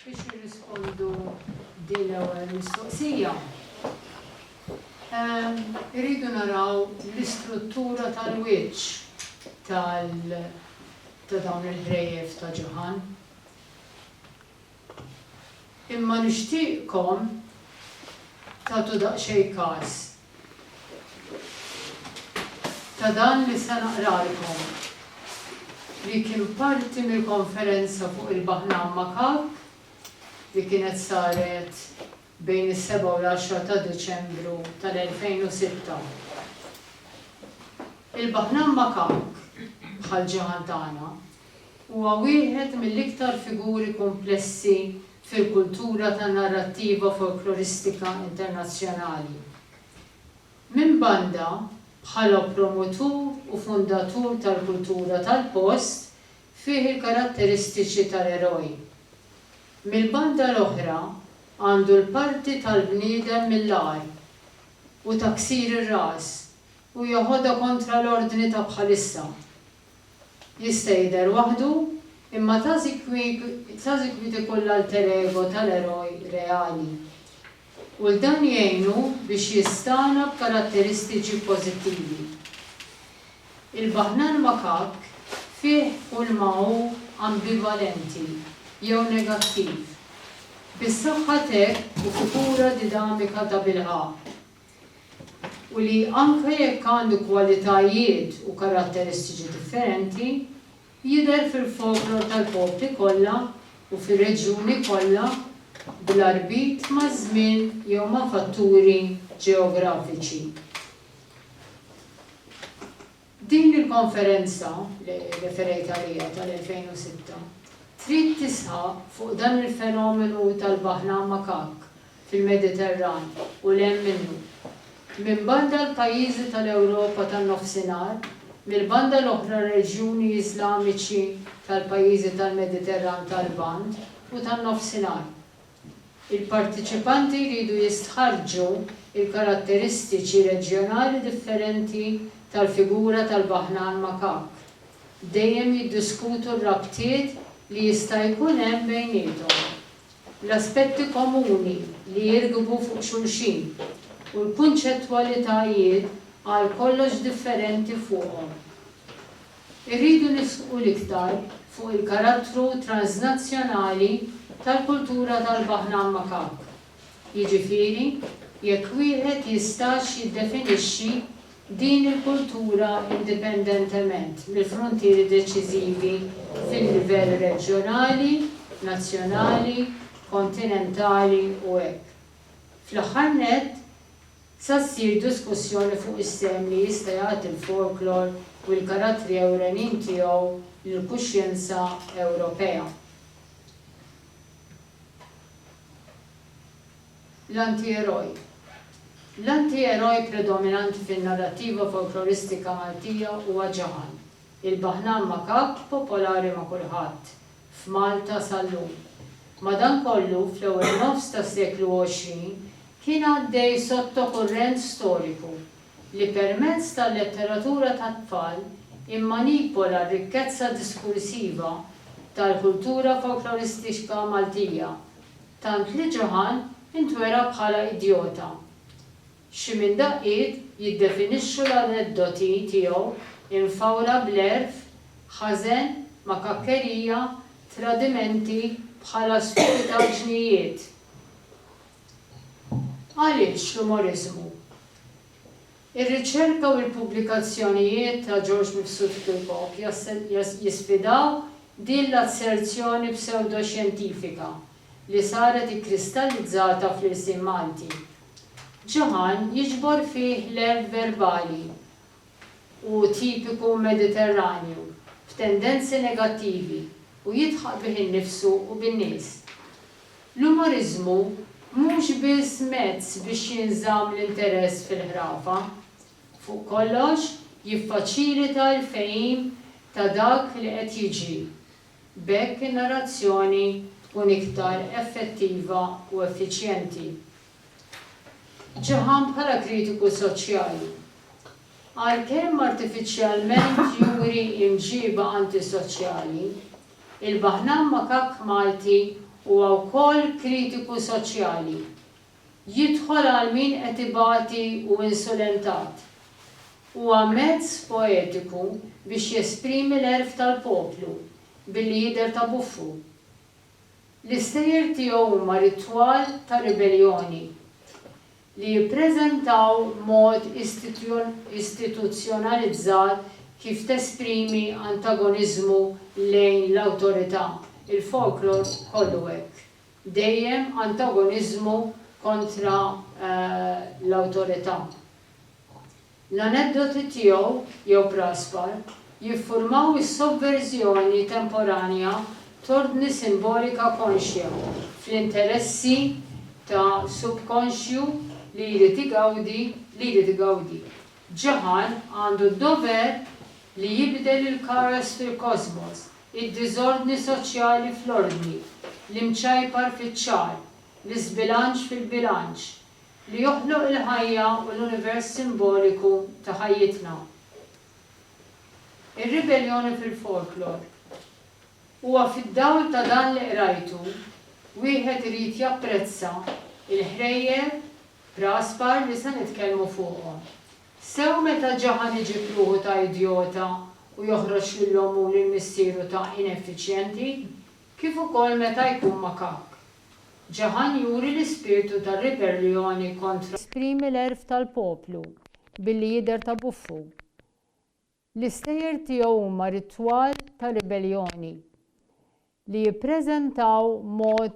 Biex nirrispondu din l-ewwel mistoqsija. Ehm, irridu naraw l-istruttura tal-wiċċ tal ta' dawn il-ħrejjef ta' ġuħan. Imma nixtieqkom tagħtu daqsxejn każ ta' dan li se naqralkom, li kien parti mill-konferenza fuq il-Baħnan Makak li kienet saret bejn is-seba' u l-għaxra ta' Diċembru tal-elfejn u sitta. Il-Baħnan Makak, bħal ġiħan tagħna, Huwa wieħed mill-iktar figuri kumplessi fil-kultura tan-narrattiva folkloristika internazzjonali. Minn banda, bħala promotur u fundatur tal-kultura tal-post, fih il-karatteristiċi tal-eroj. Mill-banda l-oħra, għandu l-parti tal-bniedem mill-agħar u ta' ksir ir-ras u jeħodha kontra l-ordni ta' bħalissa. Jista' jidher waħdu, imma Tazikwiet ikun l-alter ego tal-eroj reali. U 'l dan jgħinu biex jistagħna b'karatteristiċi pożittivi. Il-Baħnan Makak fih kulma hu ambivalenti jew negattiv, bis-saħħa t'hekk hu figura didamika tabilħaqq. u li anke jekk għandu kwalitajiet u karatteristiċi differenti, jidher fil-folklor tal-popli kollha u fir-reġjuni kollha bla rbit maż-żmien jew ma' fatturi ġeografiċi. Din il-konferenza, li referejt għaliha, tal-2006, trid tisħaq fuq dan il-fenomenu tal-baħna makakk fil-Mediterran u 'l hemm minnu. Minn banda l-pajjiżi tal-Ewropa tan-Nofsinhar, mill-banda l-oħra r-reġjuni Iżlamiċi tal-pajjiżi tal-Mediterran tal-Lvant u tan-Nofsinhar. Il-parteċipanti jridu jistħarrġu l-karatteristiċi reġjonali differenti tal-figura tal-baħnan makak, dejjem jiddiskutu r-rabtiet li jista' jkun hemm bejniethom, l-aspetti komuni li jirkbu fuq xulxin, u l-kunċettwalitajiet għal kollox differenti fuqhom. Irridu nisħqu l-iktar fuq il-karattru transnazzjonali tal-kultura tal-baħna Makak, jiġifieri jekk wieħed jistax jiddefinixxi din il-kultura indipendentement mill-fruntieri deċiżivi fil-livell reġjonali, nazzjonali, kontinentali u hekk. Fl-aħħar nett, sa ssir diskussjoni fuq is-sehem li jista' jagħti l-folklor u l-karattri ewrenin tiegħu lill-kuxjenza Ewropea. L-Antieroj L-antieroj predominanti fin-narrattiva folkloristika Maltija huwa Ġaħan, il-baħnan makabr popolari ma' kulħadd, f'Malta sal-lum. Madankollu, fl-ewwel nofs tas-seklu għoxrin kien għaddej sottokurrent storiku li permezz tal-letteratura tat-tfal immanipola r-rikkezza diskursiva tal-kultura folkloristiċka Maltija, tant li Johann intwera bħala idjota. Xi minn daqqiet jiddefinixxu l-aneddoti tiegħu imfawra bl-għerf, ħażen, makakkerija, tradimenti bħala stupidaġnijiet. Għaliex l-umoriżmu? Ir-riċerka u l-pubblikazzjonijiet ta' George Mifsud Kirkop jisfidaw din l-asserzjoni psewdoxjentifika li saret ikkristallizzata fl-irsien Malti Ġaħan jiġbor fih l-għerf verbali u tipiku Mediterranju, b'tendenzi negattivi, u jidħaq bih innifsu u bin-nies. L-umoriżmu mhux biss mezz biex jinżamm l-interess fil-ħrafa. Fuq kollox, jiffaċilita l-fehim ta' dak li qed jiġri B'hekk in-narrazzjoni tkun iktar effettiva u effiċjenti. Ġaħan bħala kritiku soċjali. Għalkemm artifiċjalment juri imġiba antisoċjali, il-Baħnan Makakk Malti huwa wkoll kritiku soċjali. jidħol għal min qed ibati u insulentat. Huwa mezz poetiku biex jesprimi l-għerf tal-poplu billi jidher ta' buffu. L-istejjer tiegħu huma ritwal ta' ribelljoni li jippreżentaw mod istituzzjonalizzat kif tesprimi antagoniżmu lejn l-awtorità. Il-folklor kollu hekk. dejjem antagoniżmu kontra l-awtorità. L-aneddoti tiegħu, jew praspar, jiffurmaw is-sovverżjoni temporanja t'ordni simbolika konxja fl-interessi ta' subkonxju li jrid igawdi li jrid igawdi. Ġaħar għandu d-dover li jibdel il-kaos fil-kosmos id-diżordni soċjali fl-ordni, l-imċajpar fiċ-ċagħar, l-iżbilanċ fil-bilanċ, li joħloq il-ħajja u l-univers simboliku ta' ħajjitna. Ir-ribelljoni fil-folklor. Huwa fid-dawl ta' dan li qrajtu, wieħed irid japprezza l-ħrejjel, Praspar, li se nitkellmu fuqhom. Sew meta ġaħan iġib ruħu ta' idjota u joħroġ lil ommu u lil missieru ta' ineffiċjenti, kif ukoll meta jkun makakk. Ġaħan juri l-ispirtu ta' riberljoni kontra. Jesprimi l-għerf tal-poplu billi jidher ta' buffu. L-istejjer tiegħu huma ritwal ta' ribelljoni li jippreżentaw mod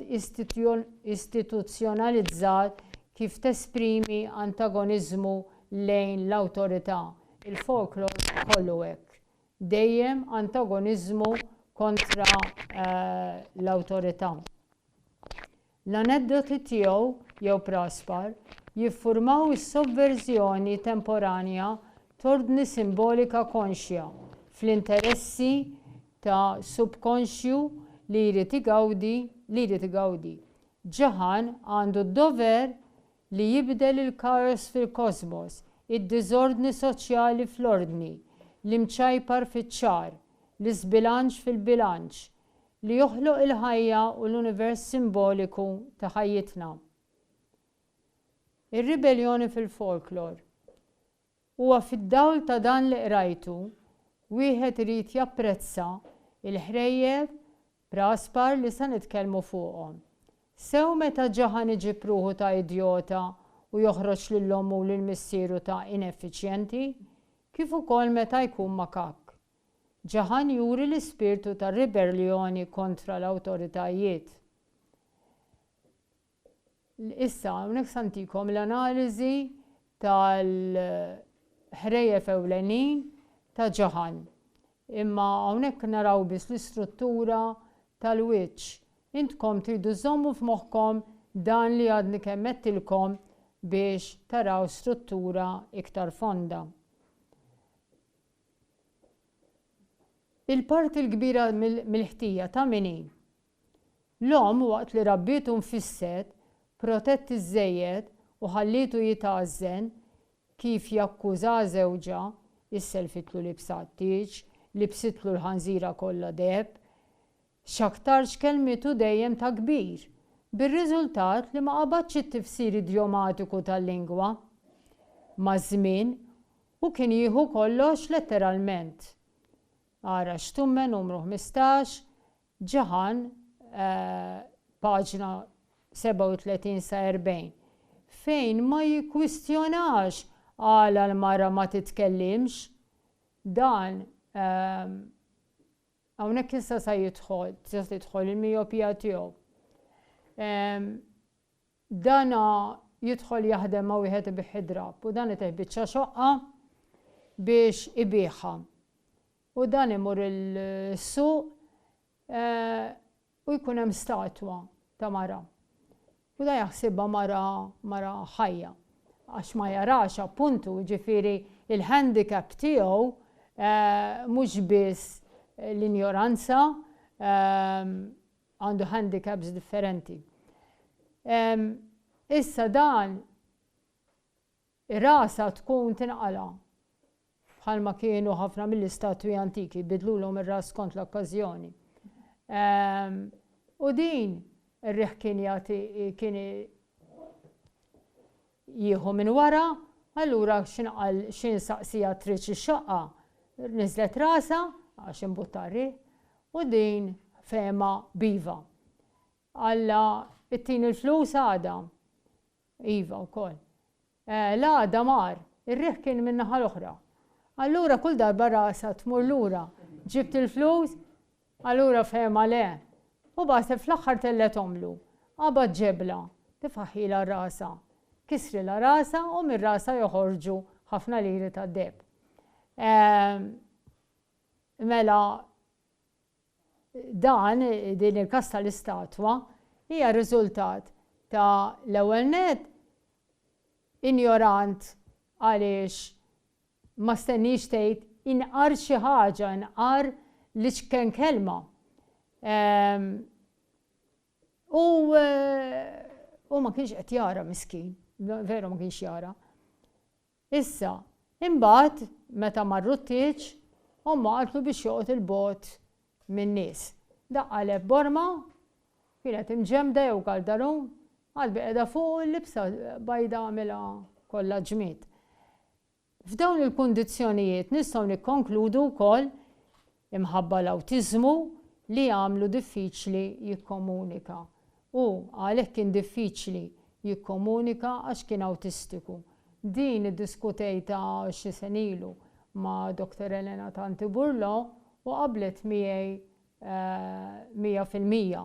istituzzjonalizzat kif tesprimi antagoniżmu lejn l-awtorità, il-folklor kollu hekk, dejjem antagoniżmu kontra l-awtorità. L-aneddoti tiegħu, jew Praspar, jiffurmaw is-sovverżjoni temporanja t'ordni simbolika konxja, fl-interessi ta' subkonxju li jrid igawdi, li jrid igawdi. Ġaħan għandu d-dover li jibdel il-kaos fil-kosmos, id-diżordni soċjali fl-ordni, l-imċajpar fiċ-ċar, l-iżbilanċ fil-bilanċ, li joħloq il-ħajja u l-univers simboliku ta' ħajjitna. Ir-ribelljoni fil-folklor. Huwa fid-dawl ta' dan li qrajtu wieħed irid japprezza l-ħrejjef praspar li se nitkellmu fuqhom. Sew meta ġaħan iġib ruħu ta' idjota u joħroġ lil ommu u lil missieru ta' ineffiċjenti, kif ukoll meta jkun makakk. Ġaħan juri l-ispirtu ta' riberljoni kontra l-awtoritajiet. Issa hawnhekk se ntikom l-analiżi tal-ħrejjef ewlenin ta' Ġaħan. Imma hawnhekk naraw biss l-istruttura tal-wiċċ. Intkom tridu żżommu f'moħħkom dan li għadni kemm għedtilkom biex taraw struttura iktar fonda. Il-parti l-kbira mill-ħtija ta' min hi? L-omm waqt li rabbietu nfisset, protett iżżejjed u ħallietu jitgħażżen kif jakkuża żewġha, isselfitlu libsa għat-tieġ, libsitlu l-ħanżira kollha deheb, x'aktarx kellmitu dejjem ta' kbir, bir-riżultat li ma qabadx it-tifsir idjomatiku tal-lingwa. Maż-żmien, Hu kien jieħu kollox letteralment. Ara Xtumme numru ħmistax, Ġaħan, paġna 37 sa 40, fejn ma jikkwistjonax għala l-mara ma titkellimx. Dan hawnhekk issa sa jidħol, tista' tidħol il-mijopija tiegħu. Dan jidħol jaħdem ma' wieħed ibigħ id-drapp u dan itih biċċa xoqqa biex ibiegħha. U dan imur is-suq u jkun hemm statwa ta' mara. U dan jaħsibha mara mara ħajja għax ma jarax appuntu, ġifieri il-handicap tiegħu mhux biss l-injoranza, għandu handicaps differenti. Issa dan ir-rasa tkun tinqala' bħalma kienu ħafna mill-istatwi antiki bidlulhom ir-ras skont l-okkażjoni. U din ir-riħ kien jagħti kien jieħu minn wara, allura x'inqal xi nsaqsiha tridx ix-xaqqa, niżlet rasha għax imbutta r-riħ u din fehemha b'iva. Alla ittini l-flus għada? Iva wkoll. Eh, l-għada mar, ir-riħ kien min-naħa l-oħra. Allura kull darba rasha tmur lura, ġibt il-flus? Allura fehemha le. U b'għaseb fl-aħħar tellethomlu. Qabad ġebla, tifaħħilha rasha. Kisrilha rasha u minn rasha joħorġu ħafna liri tad-deheb. Ehm, mela dan, din il-kas tal-istatwa, hija riżultat ta' l-ewwel nett injorant għaliex Ma stenniex tgħid inqar xi ħaġa, inqar l-iċken kelma. Ehm, u u ma kienx qed jara miskin, veru ma kienx jara. Issa, imbagħad meta marru t-tieġ, omma qaltlu biex joqgħod il-bot min-nies. Daqqaleb borma, kienet imġemda jew kaldarun, qalbi qiegħda fuq il-libsa bajda għamilha kollha ġmied. F'dawn il-kundizzjonijiet nistgħu nikkonkludu wkoll, imħabba l-awtiżmu li jagħmlu diffiċli jikkomunika. Hu għalhekk kien diffiċli jikkomunika għax kien awtistiku. Din iddiskutejtha xi sen ilu ma' Dr. Elena Tanti Burlo u qablet miegħi mija fil-mija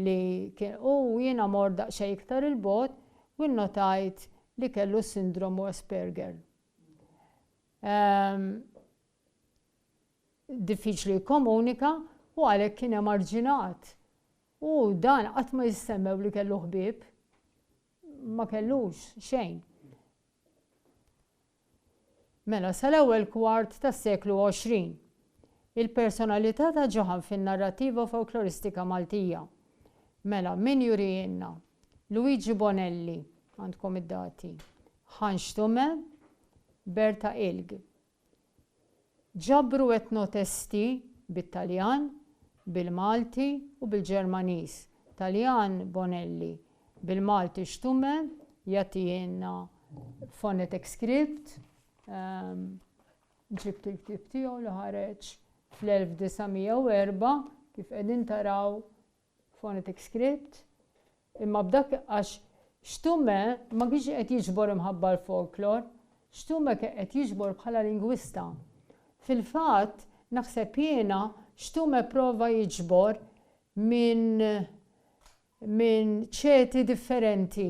li kien hu u jiena mort daqsxejn iktar 'il bogħod u nnotajt li kellu s-sindromu Asperger. Diffiċli jikkomunika u għalhekk kien emarġinat u dan qatt ma jissemmew li kellu ħbieb. Ma kellux xejn. Mela, sal-ewwel kwart tas-seklu għoxrin, il-personalità ta' Johann fin-narrattiva folkloristika Maltija. Mela, min jurihielna? Luigi Bonelli, għandkom id-dati, Ħan Xtume, Berta Ilg. Ġabru etnotesti bit-Taljan, bil-Malti u bil-Ġermaniż, Taljan Bonelli, bil-Malti Stumme, jagħtina phonetic script, ġibt il-ktieb tiegħu li ħareġ fl-1904, kif qegħdin taraw phonetic script, imma b'dak għax Stumme ma kienx qed jiġbor imħabba għall-folklor, Stumme kien qed jiġbor bħala lingwista. Fil-fatt, naħseb jiena, Stumme pprova jiġbor minn minn ċeti differenti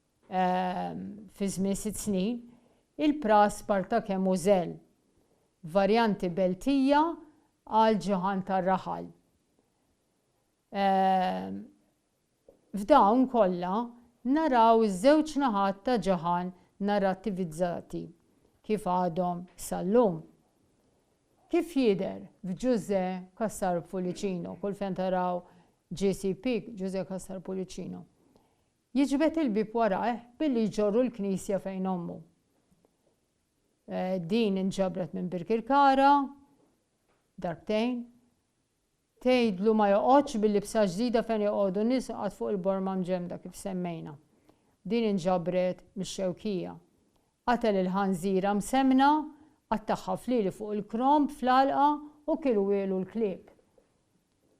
fi żmien sitt snin, il-pras Spartak hemm u żell, varjanti Beltija għal ġuħan tar-raħal. F'dawn kollha naraw iż-żewġ naħat ta' ġuħan narrattivizzati kif għadhom sal-lum. Kif jidher f'Ġużè Cassar Pullicino, kull fejn taraw GCP, Ġużè Cassar Pullicino, Jiġbed il-bieb warajh billi jġorru l-knisja fejn ommu. Din inġabret minn Birkirkara darbtejn. Tgħidlu ma joqgħodx bil-libsa ġdida fejn joqogħdu n-nies iqgħad fuq il-borma mġemmda kif semmejna. Din inġabret mix-Xewkija. Qatel il-ħanżira msemmna, qattagħha flieli fuq il-kromb fl-għalqa u kielu wielu l-klieb.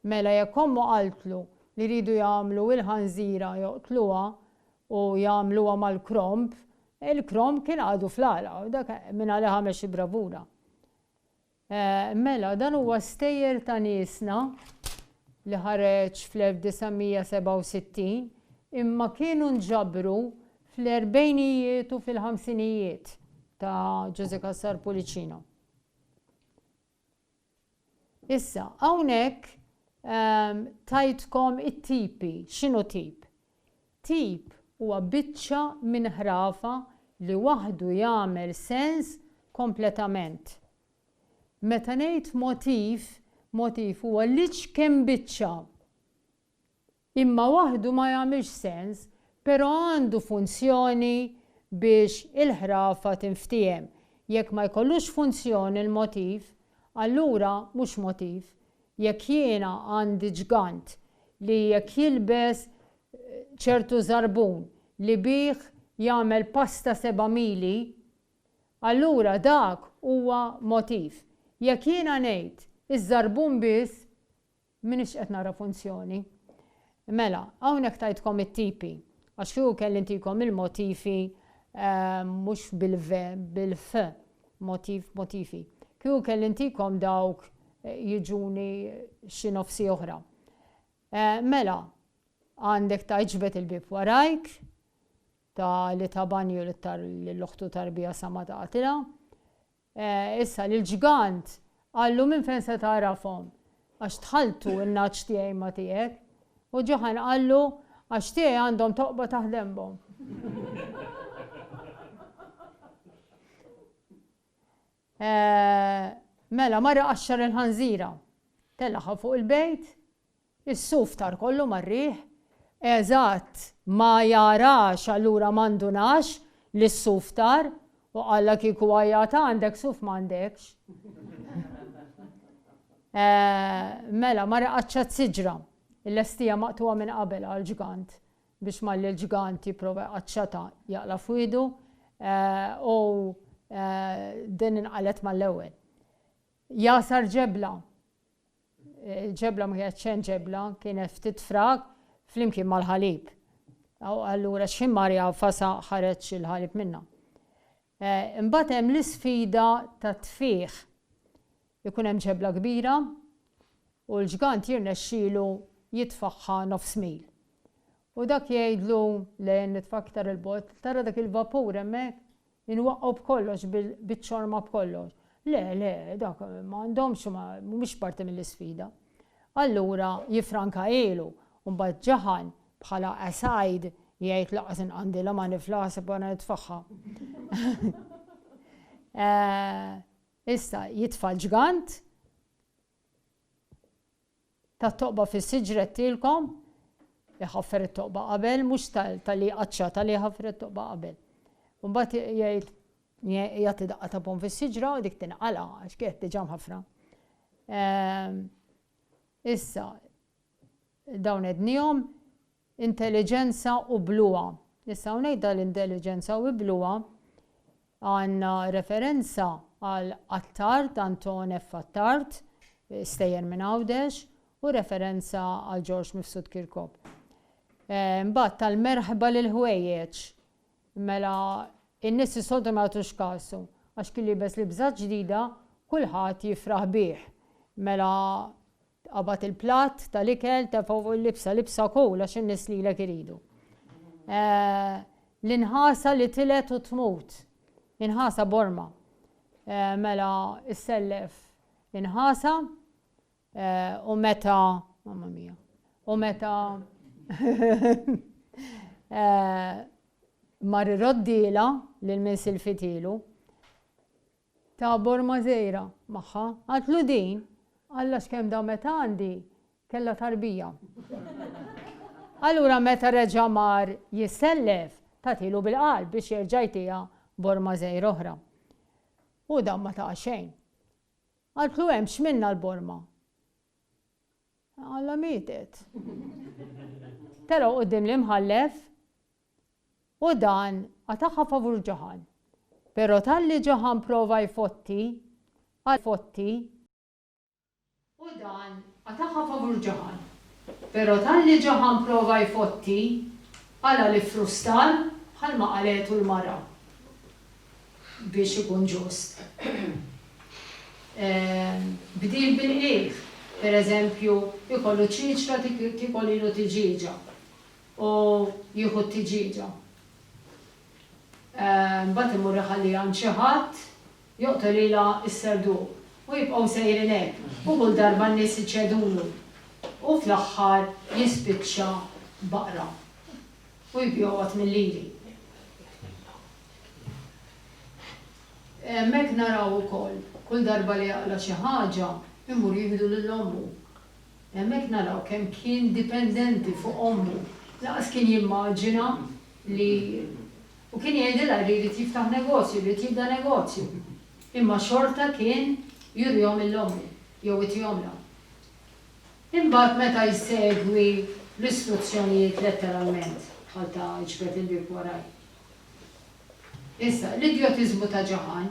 Mela jekk ommu qaltlu li jridu jagħmlu il-ħanżira joqtluha u jagħmluha mal-kromb, il-kromb kien għadu fl-għalqa u dak minn għalih għamel xi bravura. Mela dan huwa stejjer ta' niesna li ħareġ fl-1967 imma kienu nġabru fl-erbgħinijiet u fil-ħamsinijiet ta' Ġużè Cassar Pullicino. Issa, hawnhekk tajtkom it-tipi. X'inhu tip? Tip huwa biċċa minn ħrafa li waħdu jagħmel sens kompletament. Meta ngħid motiv, motiv huwa l-iġ kemm biċċa. Imma waħdu ma jagħmilx sens, pero' għandu funzjoni biex il-ħrafa tinftiehem. Jekk ma jkollux funzjoni l-motiv, allura mhux motiv. Jekk jiena għandi ġgant li jekk jilbes ċertu żarbun li bih jagħmel pasta seba' mili, allura dak huwa motiv. Jekk jiena ngħid iż-żarbun biss, M'iniex qed nara funzjoni. Mela, hawnhekk tajtkom it-tipi. Għax kieku kelli ntikom il-motifi, mhux bil-v, bil-f, motif, motifi. Kieku kelli ntikom dawk jiġuni xi nofsi oħra. Mela, għandek ta' iġbed il-bieb warajk, ta' li ta' banju lil oħtu tarbija sa ma taqtilha, Issa, lill-ġgant, qallu, Minn fejn se tagħrafhom? Għax tħalltu n-nagħaġ tiegħi ma' tiegħek. U Ġuħann qallu, Għax tiegħi għandhom toqba taħt denbhom. Mela, marra qaxxar il-ħanżira, telagħha fuq il-bejt, Is-suf tar kollu mar-riħ. Eżatt, ma jarax allura ma ndunax li s-suf tar, u qallha kieku għajjat għandek suf m'għandekx. Mela, mara qaċċat s-siġra, illestija maqtugħa minn qabel għall-ġgant, biex malli l-ġgant jipprova jqaċċatha jaqla' f'wiegħdu, u din inqalgħet mal-ewwel. Jagħsar ġebla. Il-ġebla ma kienet xejn ġebla, kienet ftit frak flimkien mal-ħalib. Allura x'ħin mar jagħfasha ħareġ il-ħalib minnha. Imbagħad hemm l-isfida tat-tfigħ. Ikun hemm ġebla kbira u l-ġgant jirnexxielu jitfagħha nofs mil. U dak jgħidlu le nitfa' aktar 'il bogħod, tara dak il-vapur hemmhekk? Inwaqqgħu b'kollox, biċ-ċorma b'kollox. Le, le, dak m'għandhomx, mhumiex parti mill-isfida. Allura jiffranka ilu, u mbagħad ġaħan, bħala aside, jgħid lanqas inqandilha ma nifla aħseb wara nitfagħha. Issa, jitfa' l-ġgant. tat-toqba fis-siġret tilkom, iħaffer it-toqba qabel, mhux ta' li jqaċċa, ta' li jħaffer it-toqba qabel. U mbagħad jgħid jagħti daqqa ta' pom fis-siġra u dik tinqala għax kienet diġà mħaffra. Ehm, issa, Dawn għednihom, intelliġenza u bluha. Issa hawnhekk dal-intelliġenza u bluha għandna referenza għal Attard, Anton F. Attard, stejjer minn Għawdex, u referenza għal Ġorġ Mifsud Kirkop. Imbagħad tal-merħba lill-ħwejjeġ, mela n-nies is-soltu ma jagħtux kasu, għax kien libes libża ġdida kulħadd jifraħ bih. Mela Tqabad il-platt tal-ikel, tefgħu u l-libsa libsa kul għax in-nies lilek iridu. L-inħasa li tilgħet u tmut. Inħasa b'orma. Mela issellef inħasa u meta mamma mija. U meta mar iroddila lil min silfitilu Tabor Mazeira, magħha. Għadtlu din? Alla x'kemm damet għandi, kellha tarbija. Allura meta reġa' mar jissellef, tagħtilu bil-qalb biex jerġa' jtiha Bor Mazeira oħra. U dan ma taha xejn. Qaltlu hemm x'minnha l-borma? Alla mietet. Telgħu quddiem l-Imħallef U dan qatagħha favur Ġoħan. Però talli Ġoħan prova jfotti, qal fotti. U dan qatagħha favur Ġoħan. Però talli Ġoħan prova jfotti, qalha li ffrustar bħalma qalgħetu l-mara. Biex ikun ġust. Bdil bil-qligħ. Pereżempju, ikollu ċiċra tikol ilu tiġieġa. u jieħu t-tiġieġa. Mbagħad imur iħalliha għand xi ħadd joqtolilha s-serduq u jibqgħu sejrin hekk u kull darba n-nies iċedulu u fl-aħħar jispiċċa baqra u jbiegħu għadd mil-liri. Hemmhekk naraw ukoll kull darba li jaqla' xi ħaġa jmur jieħdu lil ommu. Hemmhekk naraw kemm kien dipendenti fuq ommu. Lanqas kien jimmaġina li u kien jgħidilha li jrid jiftaħ negozju, jrid jibda negozju. Imma xorta kien jurihom lil ommu, jew itihomlha. Imbagħad meta jsegwi l-istruzzjonijiet letteralment, bħal ta' iġbed il-bieb waraj. Issa, l-idjotiżmu ta' Ġaħan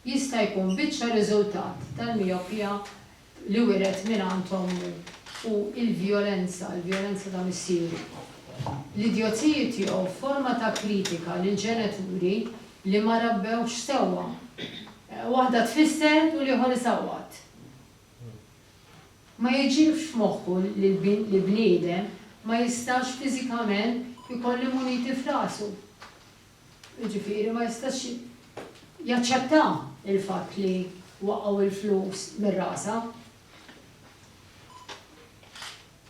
jista' jkun biċċa riżultat tal-mijopija li wiret mingħand ommu u l-vjolenza, il-vjolenza ta' missieru. L-idjozziji tiegħu f'forma ta' kritika lil ġenituri li ma rabbewhx sewwa. Waħda tfisser u l-ieħor isawwat. Ma jiġilfx f'moħħu li bniedem ma jistax fiżikament ikollu muniti f'rasu. jiġifieri ma jistax jaċċetta l-fatt li waqgħu l-flus minn rasha.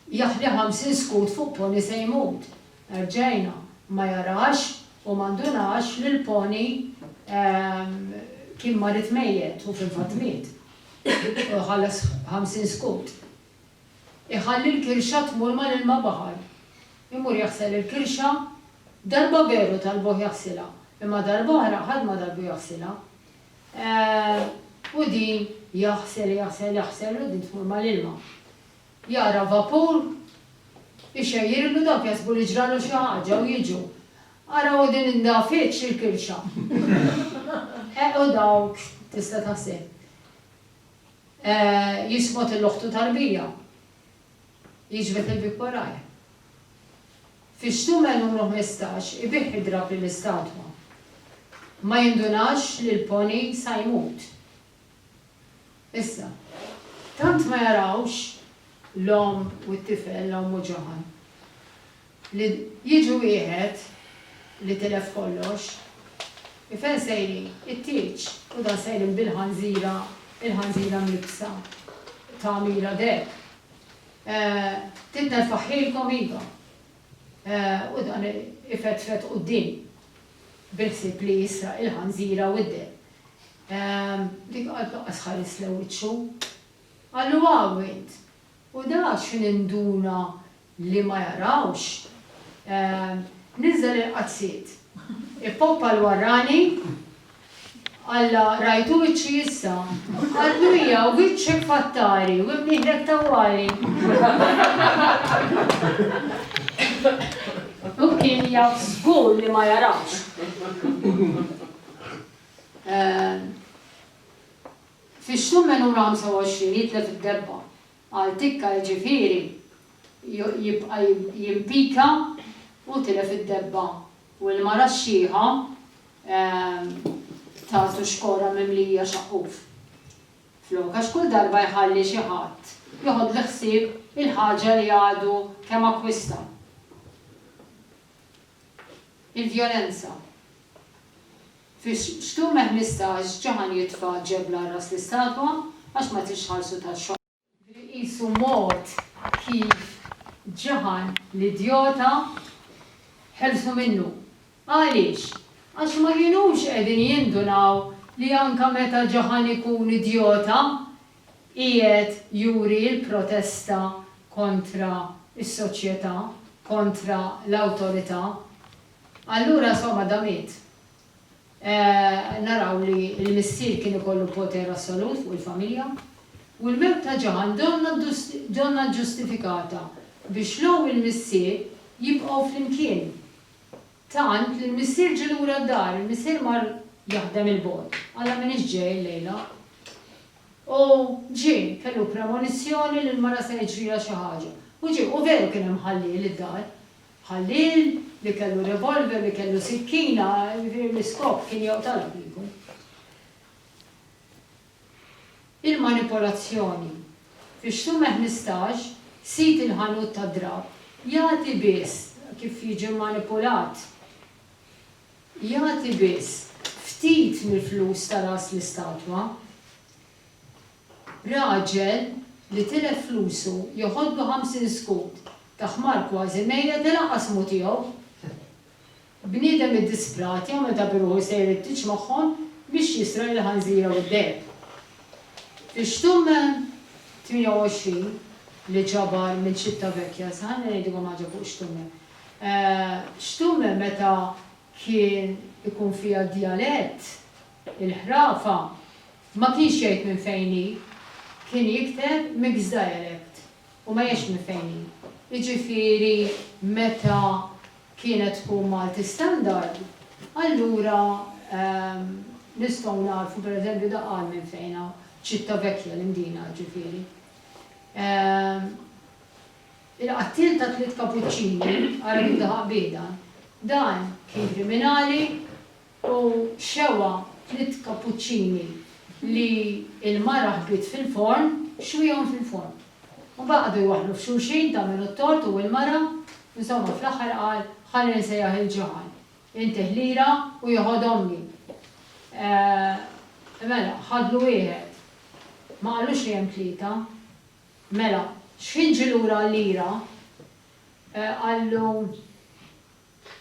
Jaħli ħamsin skud fuq pony se jmut. Erġajna, ma jarax u ma ndunax li l-pony kien marid mejjet u fil-fatt miet. U jħallas ħamsin skud. Iħalli l-kirxa tmur mal-ilma baħar. Imur jaħsel il-kirxa. Darba veru talbuh jaħsilha, imma darb'oħra ħadd ma talbu jaħsilha. U din jaħsel, jaħsel, jaħsel u din tmur mal-ilma. Jara vapur ixejjirlu dawk jaħsbu li ġralu xi ħaġa u jiġu. Ara u din indafitx il-kirxa. Eħ u dawk, tista' taħseb. Jismot il-oħtu tarbija. Jiġbed il-bieb warajh. Fix-xtumel numru ħmistax ibih id-drapp lill-istatwa. Ma jindunax li l-pony sa jmut. Issa. Tant ma jarawx l-omm u t-tifel, l-omm u Johann. Li jiġi wieħed li tilef kollox. I fejn sejrin? It-tieġ! U dan sejrin bil-ħanżira, il-ħanżira mlibbsa tagħmira deheb. Titnerfaħħilkom iva. U dan ifetfet quddiem bil-ħsieb li jisraq il-ħanżira u d-deheb. Dik qatt laqqas ħarisle wiċċu. Qallu, Hawn int! U da x'induna li ma jarawx, niżżel il-qazziet, ippoppa l-warrani, Alla rajtu wiċċi issa? Qaltlu hija, wiċċek f'attari u imnieħlek tawwali! Hu kien jaf żgur li ma jarawx. Fix-xhur minn Numru 25 jitlef id-debba. Għal tikka jiġifieri jibqa' jimpika u tilef id-debba u l-mara x-xiħa tagħtu xkora mimlija xaqquf flok għax kull darba jħalli xi ħadd joħodlu ħsieb il-ħaġa li għadu kemm akkwista. Il-vjolenza. Fi Xtume 15 ġie ħan jitfa' ġebla r-ras l-istatwa għax ma tridx tħarsu taxxa. Li qisu mod kif ġie ħan l-idjota ħelsu minnu. Għaliex? Għax ma kinux qegħdin jindunaw li anke meta ġie ħan ikun idjota qiegħed juri l-protesta kontra s-soċjetà, kontra l-awtorità. Allura insomma da miet. Naraw li l-missier kien ikollu poter assolut fuq il-familja. U l-mewt ta' Ġan donna donna ġġustifikata biex l-omm u l-missier jibqgħu flimkien. Tant li l-missier ġie lura d-dar, il-missier mar jaħdem 'il bogħod, alla m'iniex ġej illejla. U ġie, kellu premonizzjoni li l-mara se jiġrilha xi ħaġa. U ġie, u veru kien hemm ħalliel id-dar. Ħalliel li kellu revolver, li kellu sikkina, jiġifieri l-iskop kien joqtolha kieku. Il-manipolazzjoni. Fi Xtume ħmistax, sid il-ħanut tad-drapp jagħti biss, kif jiġi mmanipulat, jagħti biss ftit mill-flus ta' ras l-istatwa. Raġel li tilef flusu joħodlu ħamsin skud ta' ħmar kważi mejjet ilaqqas mhu tiegħu. Bniedem iddisprat jew meta bi ruħu sejr it-tieġ magħhom biex jisraq il-ħanżira u d-deheb. Fi Xtumm 28 li ġabar minn Civitavecchia, sa ħalli ngħidilkom ħaġa fuq Xtumm. Xtumm meta kien ikun fiha d-djalett, il-ħrafa, Ma kienx jgħid minn fejn hi, kien jikteb mixed dialect u ma jgħidx minn fejn hi. Jiġifieri meta kienet tkun Malti standard, allura nistgħu nagħrfu pereżempju dak qal minn fejn hu, Citavecchia, l-Imdina jiġifieri. Il-qattiel ta' tliet kapuċċini, Arabi u Daħaq Biedan, dan kien kriminali, U xewha tliet kapuċċini li l-mara ħbiet fil-forn, xwihom fil-forn. Imbagħad qagħdu jwaħħlu f'xulxin ta' min hu t-tort hu jew il-mara, insomma fl-aħħar qal, ħalli nsejjaħ il-ġiegħan, intih lira u jieħu għodhomni. Eeh, mela, ħadlu wieħed. Ma qalux li hemm tlieta. Mela, xħin ġie lura għal lira, qallu.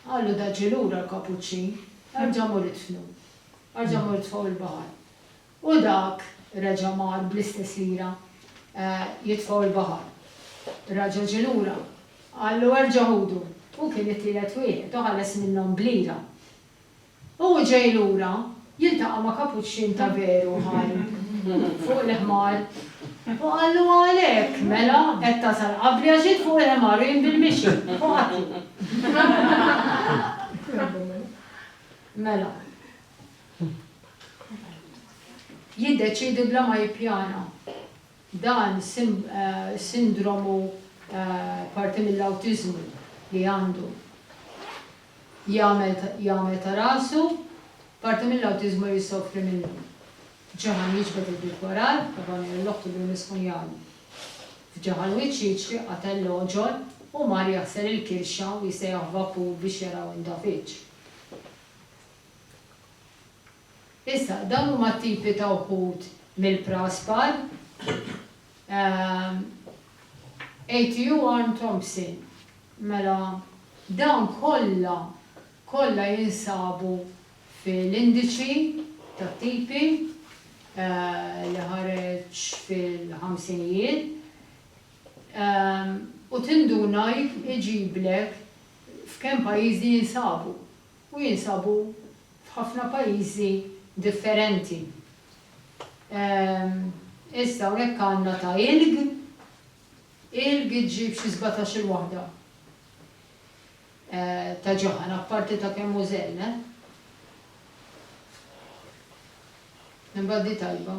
Qallu daġġi lura l-kapuċċin, Erġa' mur idfnu. Erġa' mur itfgħu il-baħar. U dak reġa' mar bl-istess lira jitfgħu il-baħar. Raġel ġie lura, qallu erġa' ħudu. Hu kien it-tielet wieħed u ħalas minnhom b'lira. Hu ġej lura, jiltaqa' ma' kapuċċin ta' veru ħaj fuq il-ħmar u qallu, Għalhekk, mela, qed tasal qabli għax int fuq il-ħmar u jien bil-mixi, u ħadtu. Mela. Jiddeċiedi bla ma jippjana. Dan sindromu parti mill-awtiżmu li għandu. jagħmel ta' rasu, parti mill-awtiżmu li jsofri minnu. Ġaħan jiġbed il-bib warajh, Ebony u l-oħt idum jiskunjawlu. F'ġaħan wiċċ jiġri qatel l-għoġol u mar jaħsel il-kirxa u jsejjaħ vapur biex jaraw indafiċ. Issa, dawn huma t-tipi ta' wħud mill-praspar. ATU Arm Thompson, Mela dawn kollha, kollha jinsabu fil-indiċi tat-tipi li ħareġ fil-ħamsinijiet u tinduna iġiblek f'kemm pajjiżi jinsabu u jinsabu f'ħafna pajjiżi differenti. Issa hawnhekk għandna ta' ilg, ilg iġġib xi sbatax-il waħda ta' ġaħan apparti ta' kemm hu żenn, eh. Imbagħad di tajba.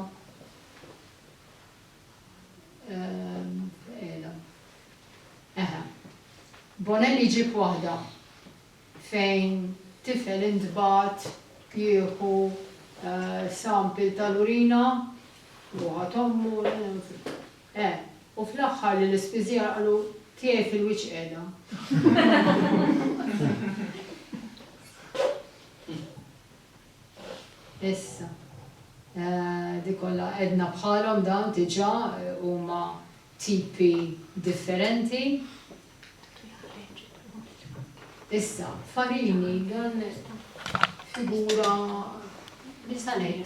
Ehm, Eħe. Bonelli ġib waħda. fejn tifel intbagħat jieħu sample tal-urina u ħadd ommu eh u fl-aħħar li l-ispiżjar qalu tiegħi fil-wiċċ qiegħda. Issa, dik kollha qegħdna bħalhom dawn diġà huma tipi differenti. Issa, farini dan figura nisanej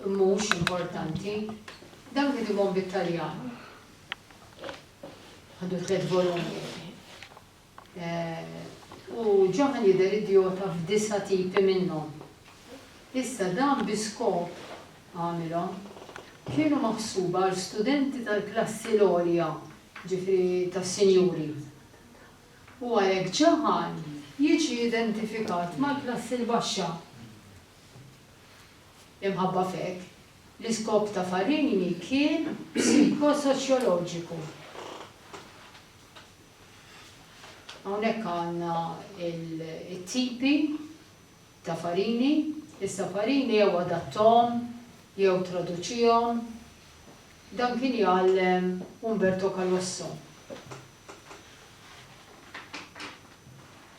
mhux importanti. Dan kien ikun bit-Taljan. Għandu tliet volumi. Eh, u ġaħan jidher idiota f'disa tipi minnhom. Issa dan biskop għamilhom kienu maħsuba għal studenti tal-klassi l-għolja jiġifieri tas-sinjuri, u għalhekk ġagħal jiġi identifikat mal-klassi l-baxxa. Imħabba f'hekk, l-iskop ta' Farini kien psikosoċjoloġiku. Hawnhekk għandna t-tipi ta' Farini, issa Farini jew adatthom jew traduċihom Dan kien jgħallem Umberto Calosso.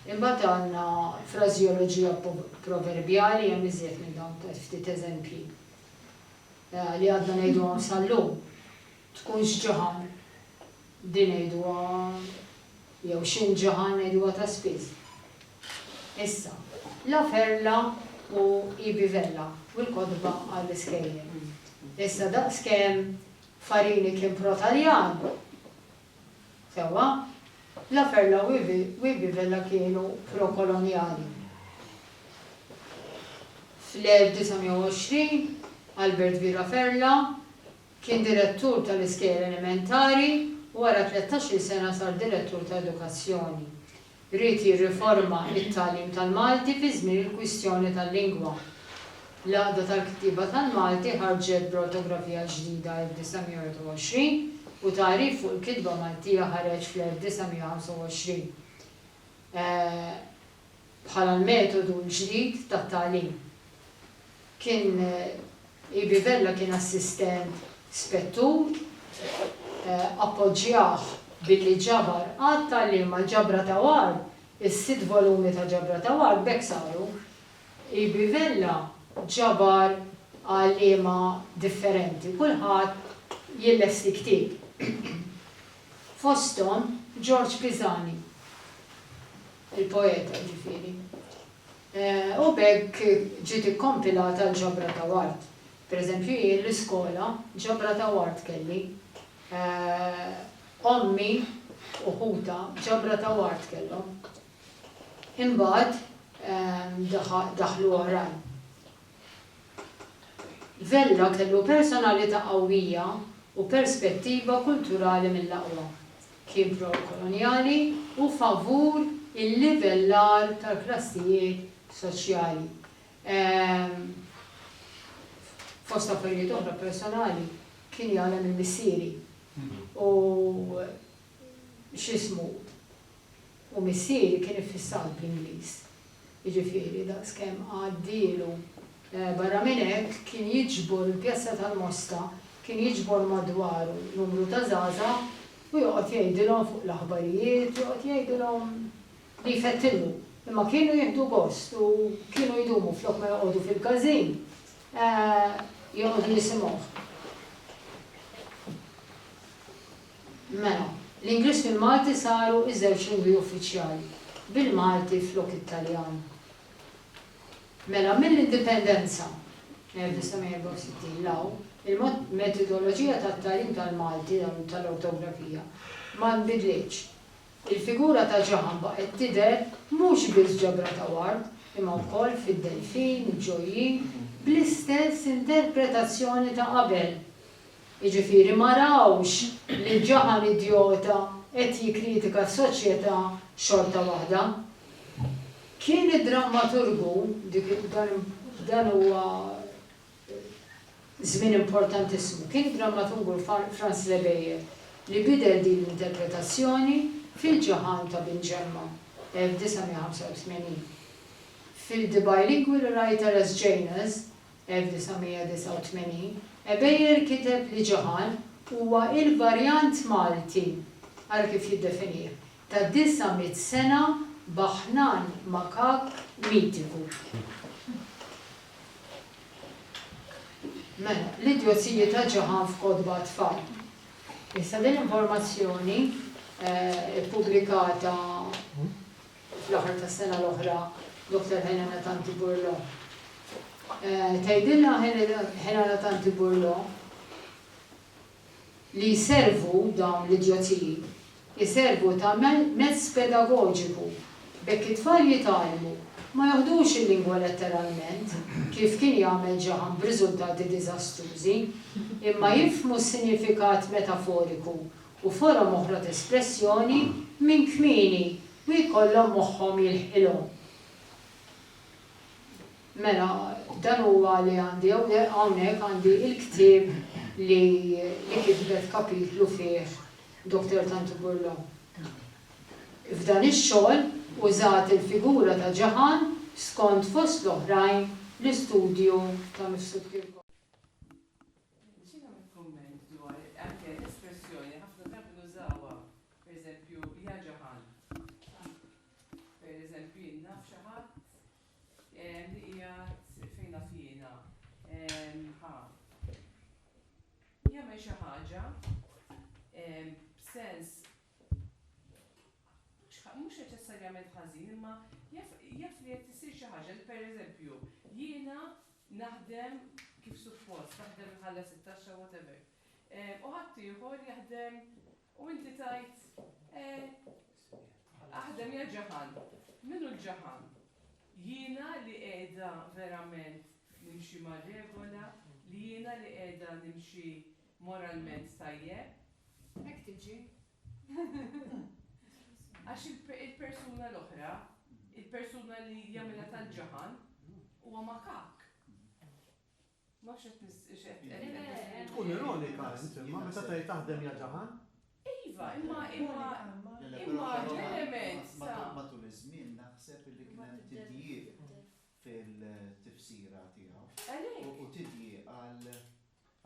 Imbagħad għandna frażeoloġija proverbjali, hemm iżjed minn dawn ftit eżempji li għadna ngħiduhom sal-lum. Tkunx ġaħan, din ngħiduha jew x'int ġaħan ngħiduha ta' spiss. Issa, La Perla u Ibi Vella u l-kotba għall-iskejjel. Issa daqskemm Farini kien pro-Taljan, sewwa, La Perla u Ibi Vella kienu pro-kolonjali. Fl-1920, Albert V. La Perla kien direttur tal-iskejjel elementari u wara tlettax-il sena sar direttur ta' edukazzjoni. Ried jirriforma t-tagħlim tal-Malti fi żmien il-kwistjoni tal-lingwa. L-Għaqda tal-Kittieba tal-Malti ħarġet b'ortografija ġdida 1921 u tagħrif fuq il-kitba Maltija ħareġ fl-1925 bħala l-metodu l-ġdid tat-tagħlim. Kien EB Vella kien assistent spettur, appoġġjah billi ġabar għadd ta' liema l-ġabra ta' war, is-sitt volumi ta' ġabra ta' war b'hekk saru. EB Vella ġabar għalliema differenti, kulħadd jillesti ktieb, fosthom Ġorġ Pisani, il-poeta jiġifieri. U b'hekk ġiet ikkompilata l-ġabra ta' ward. Per eżempju jien l-iskola ġabra ta' ward kelli. Ommi u ħutha ġabra ta' ward kellhom. Imbagħad daħlu oħrajn. Vella kellu personalità qawwija u perspettiva kulturali mill-aqwa. kien pro-kolonjali u favur il-livellar tal-klassijiet soċjali. Fost affarijiet oħra personali, kien jagħlem il-missieri u x'ismu, u missieri kien iffissat bl-Ingliż. Jiġifieri, daqskemm għaddielu. Barra minn hekk, kien jiġbor il-Pjazza tal-Mosta, kien jiġbor madwaru numru ta' żgħażagħ u joqgħod jgħidilhom fuq l-aħbarijiet, joqgħod jgħidilhom li jfettilhom. Imma kienu jieħdu gost u kienu jdumu flok ma joqogħdu fil-każin, joqogħdu jisimgħuh. Mela, l-Ingliż fil-Malti saru iż-żewġ lingwi uffiċjali, bil-Malti flok it-Taljan. Mela, mill-Indipendenza, 1964, 'l hawn, il-metodoloġija tat-tagħlim tal-Malti u tal-ortografija ma nbidlitx. Il-figura ta' ġaħam baqgħet tidher mhux biss ġabra ta' ward, imma wkoll fid-delfin, il-ġojjin, bl-istess interpretazzjoni ta' qabel. Jiġifieri ma rawx li l-ġaħan idjota qed jikkritika s-soċjetà xorta waħda. Kien id-drammaturgu, dik dan dan huwa żmien importantissimu, kien id-drammaturgu Franz Lebeyer li bidel din l-interpretazzjoni f'Il-Ġaħan ta' Bin Ġemma, 1985. Fil-The Bilingual Writer as Janus, 1989, Ebejer kiteb li Ġoħan huwa l-varjant Malti, ara kif jiddefinih, ta' disa' mitt sena baħnan makak mitiku. Mela, l-idjożiji ta' Ġoħan f'kotba għat-tfal. Issa din l-informazzjoni, ippubblikata fl-aħħar tas-sena l-oħra Dottor Helena Tanti Burlo. Tgħidilna Helena Tanti Burlo li jservu dawn l-idjozziji, jservu ta' mezz pedagoġiku b'hekk it-tfal jitgħallmu ma joħdux il-lingwa letteralment kif kien jagħmel Ġaħan b'riżultati diżastrużi, imma jifhmu s-sinjifikat metaforiku u forom oħra ta' espressjoni minn kmieni u jkollhom moħħhom jilħqilhom. Mela, dan huwa li għandi hawnhekk, hawnhekk għandi l-ktieb li li kitbet kapitlu fih Doctor Tantu Burlon. F'dan ix-xogħol użat il-figura ta' Ġaħan skont fost l-oħrajn l-istudju ta' Mifsud Kirkop. Nixtieq nagħmel kumment dwar anke l-espressjoni ħafna drabi nużawha, pereżempju, ja ġaħan. Pereżempju, jien naf xi ħadd li qiegħed fejn naf jiena ħa jagħmel xi ħaġa b'sens mhux neċessarjament ħażin imma jaf li qed issir xi ħaġa li pereżempju jiena naħdem kif suppost, naħdem inħallas it-taxxa whatever, u ħaddieħor jaħdem u inti tgħid eh aħdem ja ġaħan. Min hu l-ġaħan? Jiena li qiegħda verament nimxi mar-regola, li jiena li qiegħda nimxi moralment tajjeb? Hekk tiġi. Għax il-persuna l-oħra, il-persuna li jagħmilha tal-ġaħan, huwa makakk. Ma nafx qed nis- x'qed- qed- qed- qed- Tkun ironika int imma meta tgħid taħdem ja ġaħan. Iva, imma imma Le, le, però imma però l-element ma- ta' ma- matul iż-żmien naħseb li kien hemm tidjieq fil-tifsira tiegħu. Għalhekk. U tidjieq għal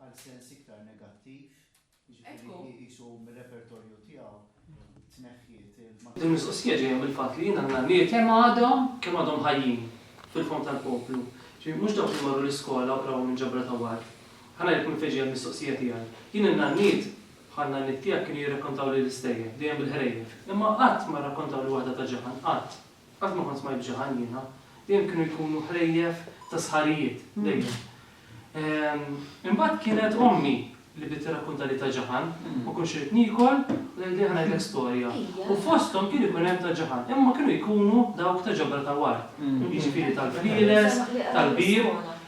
għal sens iktar negattiv, jiġifieri li jqisu mir-repertorju tiegħu tneħħiet il-. Din il-mistoqsija ġejja mill-fatt li jien għandna nies. Kemm għadhom, kemm għadhom ħajjin fil-fond tal-poplu. Ġifieri mhux dawk li marru l-iskola u qrawhom minn ġabra ta' ward. Ħa ngħidlek minn fejn ġejja l-mistoqsija tiegħi. Jien in-nanniet, bħan-nanniet tiegħek kienu jirrakkontawli l-istejjer, dejjem bil-ħrejjef. Imma qatt ma rrakkontawli waħda ta' ġaħan, qatt. Qatt ma kont smajt b'xi ħadd jiena. Dejjem kienu jkunu ħlejjef ta' sħarijiet, dejjem. Imbagħad kienet ommi li bdiet tirrakkuntali ta' Ġaħan. Ma kontx irid niekol u tgħidli ħa ngħidlek storja. U fosthom kien ikun hemm ta' Ġaħan, imma kienu jkunu dawk ta' ġabra ta' wart, jiġifieri tal-flieles, tal-bieb.